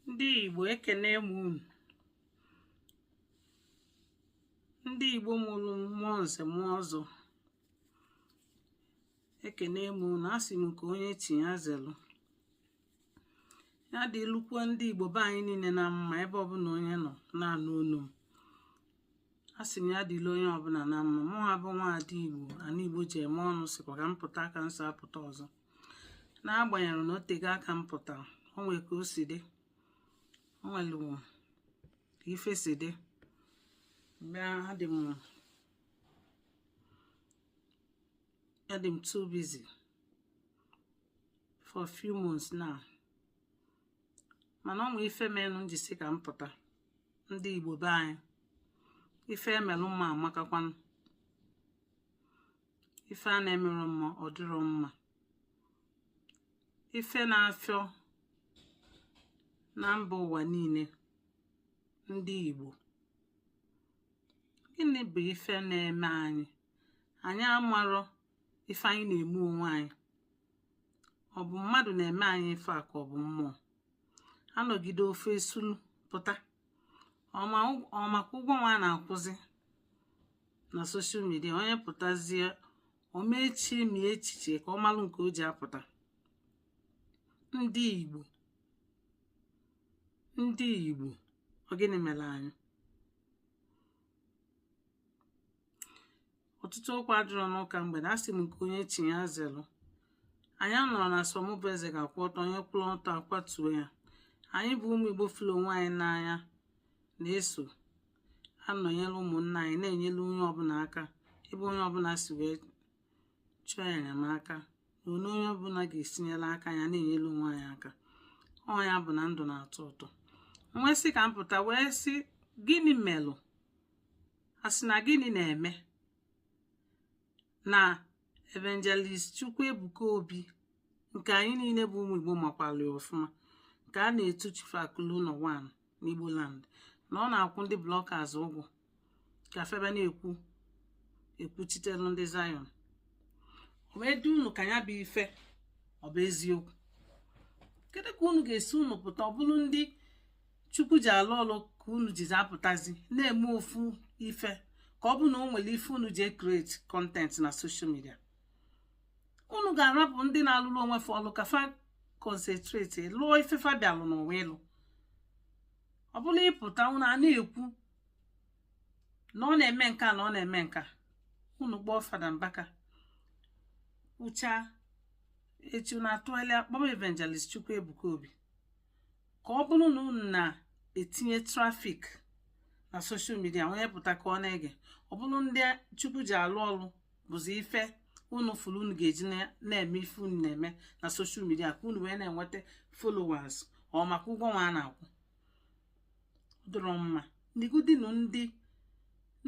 ndị Igbo ekene m unu ndị Igbo mụrụ m ma nze ma ọzọ ekene m unu asị m nke onye chi ya zelụ ya dịlụkwa ndị Igbo be anyị niile na mma ebe ọbụla onye nọ na-anụ olu m asị m ya dịlị onye ọbụla na mma mụa bụ nwaada Igbo ana Igbo ji eme ọnụ sịkwa ka m pụta ka m so apụta ọzọ n'agbanyeghị na o tego aka m pụtara o nwere ka o si dị o nwere ka ife si dị bịa adị m too busy for a few months now mana o nwee ife menụ m ji sị ka m pụta ndị Igbo be anyị ife e melụ mma amakakwanụ ife a na-emerọ mma ọ dịrọ mma ife na-afịọ na mba ụwa niile ndị Igbo gịnị bụ ife na-eme anyị anyị amarọ ife anyị na-eme onwe anyị ọ bụ mmadụ na-eme anyị ife a ka ọ bụ mmụọ a nọgide ọfụụ esulu pụta ọ maka ụgwọ nwa a na-akwụzi na social media onye pụtazie ọ ma echemi echiche ka ọ malụ nke o ji apụta ndị igbo ndị igbo ọ gịnị mere anyị ọtụtụ okwu adịrọ n'ụka mgbede asị m nke onye chi ya zelụ anyị anọrọ na sọ mụ bụ eze ga-akwụ ọtọ onye kwụrụ ọtọ akwatuo ya anyị bụ ụmụ igbo fụrụ onwe anyị n'anya na-eso anọnyere ụmụnna anyị na-enyere onye ọbụla aka ebe onye ọbụla si wee chọọ enyemaka na onye onye ọbụla ga-esi nyere aka ya na-enyere onwe anyị aka ọ ya bụ na ndụ na-atọ ụtọ m wee sị ka m pụta wee sị gịnị melụ a sị na gịnị na-eme na evangelist Chukwuebuka Obi nke anyị niile bụ ụmụ Igbo makwara ọfụma nke a na-etu Chief Akụlueụnọ One n'Igbo land na ọ na-akwụ ndị bloggers ụgwọ ka fa bịa na-ekwuchitere ndị Zion o wee dị unu ka ya bụ ife ọ bụ eziokwu kedu ka unu ga-esi unu pụta ọ bụrụ ndị chukwu ji alụ ọlụ ka unu jizi apụtazi na-eme ofu ife ka ọ bụ na o nwere ife unu ji ecreate content na social media unu ga-arapụ ndị na-alụrụ onwe fa ọlụ ka fa concentrate lụọ ife fa bịalụ n'ụwa ịlụ ọ bụlụ ị pụta unu a na-ekwu na ọ na-eme nka na ọ na-eme nka unu kpọọ fada mbaka kwuchaa echi unu atụgharịa kpọm evangelist chukwu ebuka obi ka ọ bụrụ na unu na-etinye traffic na social media onye pụta ka ọ na-ege ọ bụrụ ndị chukwu ji alụ ọrụ bụzi ife unu fụrụ unu ga-eji na-eme ife unu na-eme na social media ka unu wee na-enweta followers or maka ụgwọ nwa a na-akwụ ọ dịrọ mma negodinu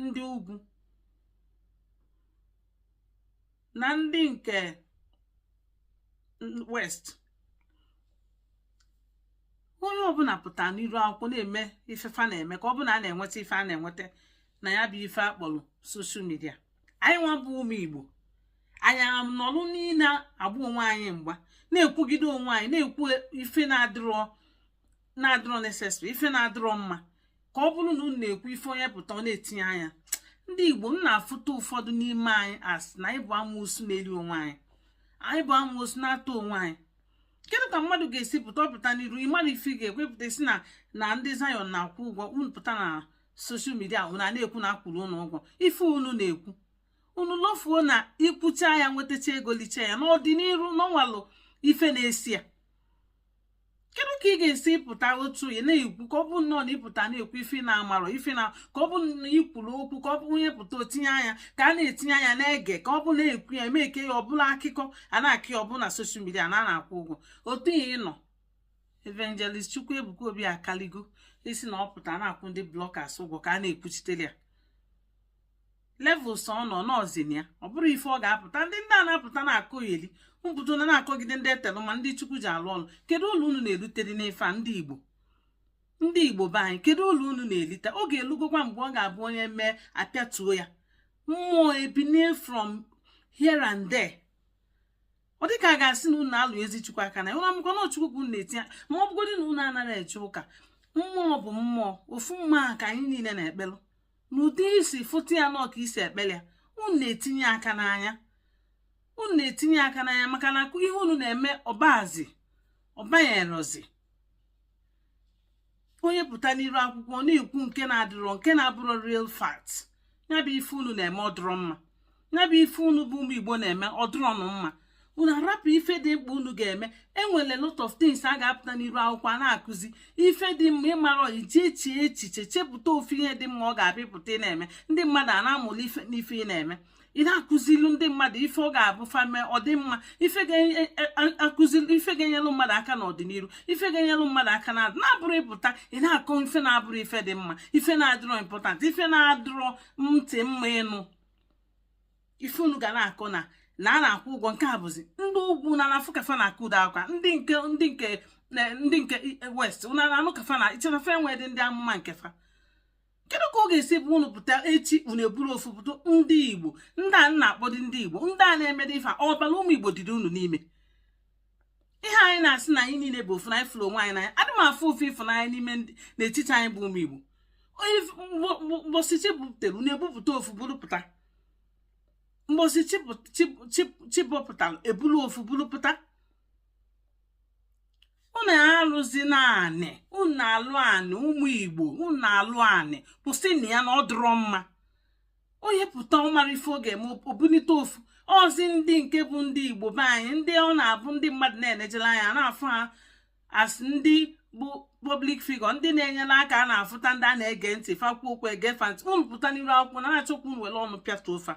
ndị ugwu na ndị nke west onye ọbụla pụta n'iru akwụkwọ na-eme ife fa na-eme ka ọ bụ na a na-enweta ife a na-enweta na ya bụ ife a kpọrọ social media anyị nwa bụ ụmụ igbo anyị anọlụ niile agba onwe anyị mgba na-ekwugide onwe anyị na-ekwu ife na-adịrọ na-adịrọ necessary ife na-adịrọ mma ka ọ bụrụ na unu na-ekwu ife onye pụta ọ na-etinye anya ndị igbo m na-afụta ụfọdụ n'ime anyị as na anyị bụ amoosu na-eri onwe anyị anyị bụ amoosu na-ata onwe anyị kedụ ka mmadụ ga-esi pụta ọ pụta n'iru ịmara ife ị ga-ekwupụta sị na ndị zion na-akwụ ụgwọ unu pụta na social media unu a na-ekwu na a kwụrụ unu ụgwọ ife unu na-ekwu unu lofuo na i kwuchaa ya nwetacha ego lichaa ya n'ọdịniru na o nwelụ ife na-esi ya kedu ka ị ga-esi pụta otu ị na-ekwu ka ọ bụ nnọọ na ị pụta na-ekwu ife ị na-amarọ ife na ka ọ bụ na i kwuru okwu ka ọ bụ onye pụta o tinye anya ka a na-etinye anya na-ege ka ọ bụ na-ekwu ya eme ke ya ọ bụlụ akụkọ a na-akọ ya ọ bụ na social media na a na-akwụ ụgwọ otu ihe ịnọ evangelist chukwu ebuka obi akalịgo ịsị na ọ pụta na-akwụ ndị bloggers ụgwọ ka a na-ekwuchitere ya levels ọ nọ n'ọzin ya ọ bụrọ ife ọ ga-apụta ndị ndị a na-apụta na-akọyeli mpụta na na-akọgide ndị e telụ mmanụ ndị chukwu ji alụ ọlụ kedu ulu unu na-eritere n'ife a ndị igbo ndị igbo be anyị kedu ulu unu na-elite ọ ga-elugokwa mgbe ọ ga-abụ onye mee apịatuo ya mmụọ ebinie from here and there ọ dịka a ga-asị na unu alụ ezi chukwu aka n'anya unu amakwa na chukwu bụ na-etinye ma ọ bụgodị na unu anaghị eje ụka mmụọ bụ mmụọ ofu mmụọ ka anyị niile na-ekpelụ n'ụdị i si fụta ya nọọ ka i si ekpere ya unu na-etinye aka n'anya unu na-etinye aka n'anya maka na ihe unu na-eme ọ bazi ọ banyerọzi onye pụta n'iru akwụkwọ na-ekwu nke na-adịrọ nke na-abụrọ real fact ya bụ ife unu na-eme ọ dịrọ mma ya bụ ife unu bụ ụmụ igbo na-eme ọ dịrọnụ mma unu arapụ ife dị mkpa unu ga-eme e nwere lot of things a ga-apụta n'iru akwụkwọ a na-akụzi ife dị mma ị mara iji echi echiche chepụta ofu ihe dị mma ọ ga-abụ ị pụta ị na-eme ndị mmadụ a na-amụrụ ife n'ife ị na-eme ị na-akụzilu ndị mmadụ ife ọ ga-abụ fa mee ọ dị mma ife ga-akụzilu e, e, ife ga-enyelụ mmadụ aka n'ọdịnihu ife ga-enyelụ mmadụ aka na na-abụrọ ị pụta ị na-akọ ife na-abụrọ ife dị mma ife na-adịrọ important ife na-adịrọ ntị mma ịnụ ife unu ga na-akọ na na a na-akwụ ụgwọ nke a bụzi ndị ugwu unu ana-afụ ka fa na-akụda akwa ndị nke ndị nke ndị nke e, west unu ana-anụ ka fa na i che na fa enwedị ndị amụma nke fa kedu ka ọ ga-esi bụ unu pụta echi unu eburu ofu pụta ndị igbo ndị a na-akpọdị ndị igbo ndị a na-emedị ife ọbara ụmụ igbo dịrị unu n'ime ihe anyị na-asị na anyị niile bụ ofu na anyị fụrụ onwe anyị n'anya adị m afụ ofu ịfụnanya n'ime n'etiti anyị bụ ụmụ Igbo mgbọsị chi bọpụtara unu ebupụta ofu buru pụta mgbọsị chi bọpụtara ebulu ofu buru pụta unu alụzina anị unu alụ anị ụmụ Igbo unu alụ anị kwụsịnụ ya na ọ dụrọ mma onye pụta ọ marọ ife ọ ga-eme o bunite ofu ozi ndị nke bụ ndị igbo be anyị ndị ọ na-abụ ndị mmadụ na-enejela anya na-afụ ha as ndị bụ public figure ndị na-enyere aka a na-afụta ndị a na-ege ntị fa kwuo okwu e gee fa ntị unu pụta n'iru akwụkwọ na-achọkwu unu were ọnụ pịatuo fa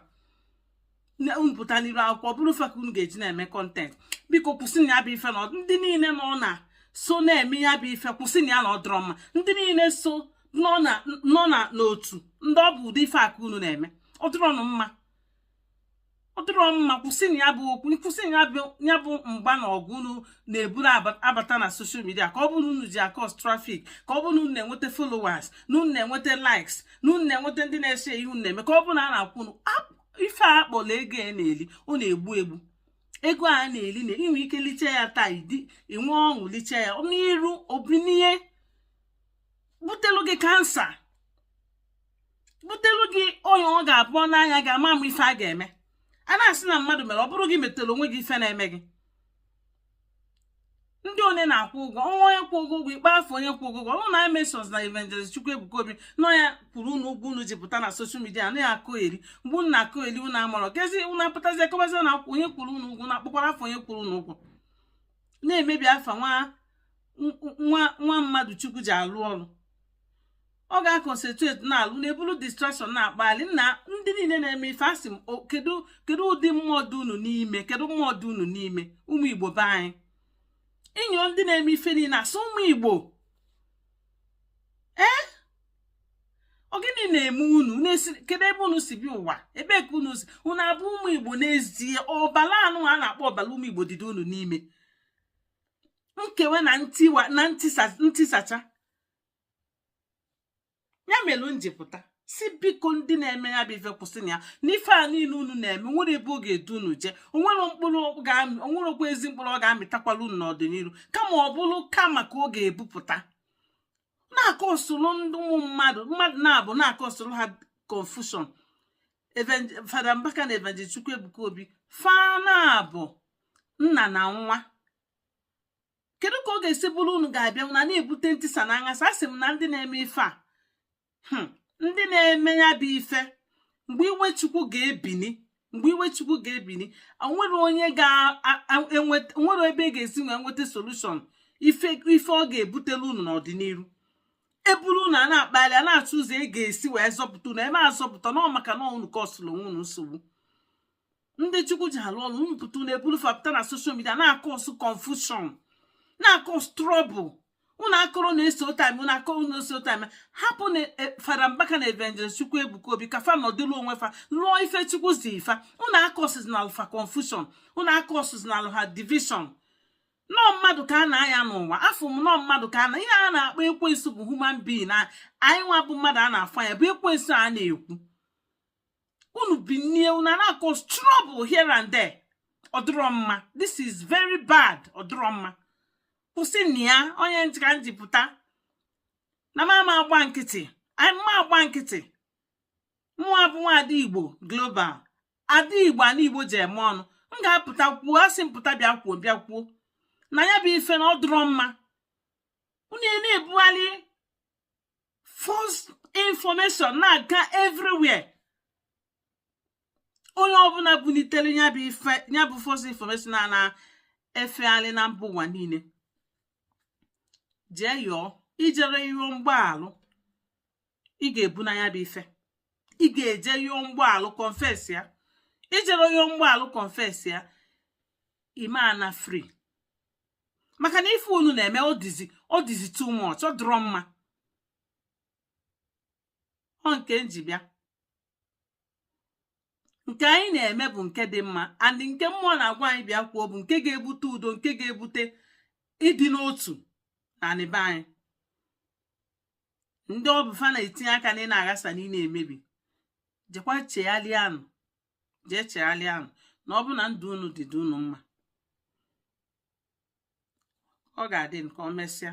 unu pụta n'iru akwụkwọ bụrụ fa ka unu ga-eji na-eme content biko kwụsịnụ ya bụ ife na ndị niile nọ na so na-eme ya bụ ife kwụsịnụ ya na ọ dịrọ mma ndị niile so nọ na n'otu ndị ọ bụ ụdị ife a ka unu na-eme ọ dịrọnụ mma ọ dịrọ mma kwụsịnụ ya bụ okwu kwụsịnụ ya bụ mgba na ọgụ unu na-eburu abata na social media ka ọ bụrụ unu ji a-cause traffic ka ọ bụrụ unu na-enweta followers na unu na-enweta likes na unu na-enweta ndị na-ese ihe unu na-eme ka ọ bụrụ na a na-akwụ unu ife a kpọrọ ego a na-eli ọ na-egbu egbu ego a na-eli na i nwe ike liche ya taa idi inwe ọṅụ liche ya n'iru o binie butelu gị cancer butelu gị ọnya ọ ga-abụ n'anya gị ama ama ife a ga-eme a na-asị na mmadụ mere ọ bụrụ gị metere onwe gị ife na-eme gị ndị onye na-akwụ ụgwọ ọnwa onye kwụ gị ụgwọ ị kpọ afa onye kwụ gị ụgwọ unu na-emention na evangelist chukwuebuka obi na ọ ya kwụrụ unu ụgwọ unu ji pụta na social media na-akọyeri mgbe unu na-akọyeri unu amarọ kezi unu apụtazi akọbazi na akwụ onye kwụrụ unu ụgwọ na-akpọkwarọ afa onye kwụrụ unu ụgwọ na-emebi afa nwa mmadụ chukwu ji alụ ọrụ ọ ga-aconcentrate na-alụ na-ebulu distraction na-akpali na ndị niile na-eme ife asị m kedu kedu ụdị mmụọ dị unu n'ime kedu mmụọ dị unu n'ime ụmụ igbo be anyị ịyọ ndị na-eme ife niile a sị ụmụ igbo ee ọ gịnị na-eme unu kedu ebe unu si bịa ụwa ebe ka unu si unu abụ ụmụ igbo n'ezie ọbala ahụ a na-akpọ ọbala ụmụ igbo dịdị unu n'ime nkewe na ntiwa na ntisacha ya mere m ji pụta sị biko ndị na-eme ya bụ ife kwụsịnụ ya n'ife a niile unu na-eme o nwerọ ebe ọ ga-edu unu jee o nwerọ mkpụrụ o nwerọkwa ezi mkpụrụ ọ ga-amịtakwala unu n'ọdịnihu kama ọ bụrụ kama ka ọ ga-ebupụta na-akọsụrụ ndị ụmụ mmadụ mmadụ na-abụ na-akọsụrụ ha confusion fada mbaka na evangelist chukwuebuka obi fa na-abụ nna na nwa kedu ka ọ ga-esi bụrụ unu ga-abịa na na-ebute ntisa na nghasa asị m na ndị na-eme ife a hmm, ndị na-eme ya bụ ife mgbe iwe chukwu ga-ebini mgbe iwe chukwu ga-ebini o nwerọ onye o nwerọ ebe e ga-esi wee nweta solution ife ọ ga-ebutelu unu n'ọdịnihu e buru unu a na-akpali a na-achọ ụzọ e ga-esi wee zọpụta unu a ma azọpụta unu maka na unu kọsụrụ onwe unu nsogbu ndị chukwu ji alụ ọrụ unu pụta na-eburu fa pụta na social media na-akọsụ confusion na-akọsụ trouble unu akọrọ na-eso time unu akọrọ na-eso time hapụnụ e, fada mbaka na evangelist chukwuebuka obi ka fa nọdụrụ onwe fa lụọ ife chukwu zi fa unu akọsụzinalụ fa confusion unu akọsụzinalụ ha division na ọ mmadụ ka a na-aya n'ụwa afụ m na ọ mmadụ ka a na ihe a na-akpọ ekwensu bụ human being na anyị nwa bụ mmadụ a na-afụ ya bụ ekwensu a na-ekwu unu binie unu na-cause trouble here and there ọ dụrọ mma this is very bad ọ dụrọ mma kwụsịnụ ya onye ntị ka m ji pụta na m ama agba nkịtị ama m agba nkịtị mụwa bụ nwa ada igbo global ada igbo ana igbo ji eme ọnụ m ga-apụta kwuo asị m pụta bịa kwuo bịa kwuo na ya bụ ife na ọ dụrọ mma unu na-ebugharị false information na-aga everywhere onye ọbụla bunitere ya bụ ife ya bụ false information a na-efegharị na mba ụwa niile jee yọọ i jerọ yọọ mgbaalụ ị ga-ebuna ya bụ ife ị ga-eje ịyọ mgbaalụ confess ya i jerọ yọọ mgbaalụ confess ya ị ma ana free maka na ife unu na-eme ọ dịzi ọ dịzi too much ọ dịrọ mma ọ nke m ji bịa nke anyị na-eme bụ nke dị mma and nke mmụọ na-agwa anyị bịa kwuo bụ nke ga-ebute udo nke ga-ebute ịdị n'otu na anị be anyị ndị ọ bụ fa na-etinye aka anị na-aghasa anị na-emebi jekwa chegharịanụ jee chegharịanụ na ọ bụ na ndụ unu dị dị unu mma ọ ga-adị nke o mesịa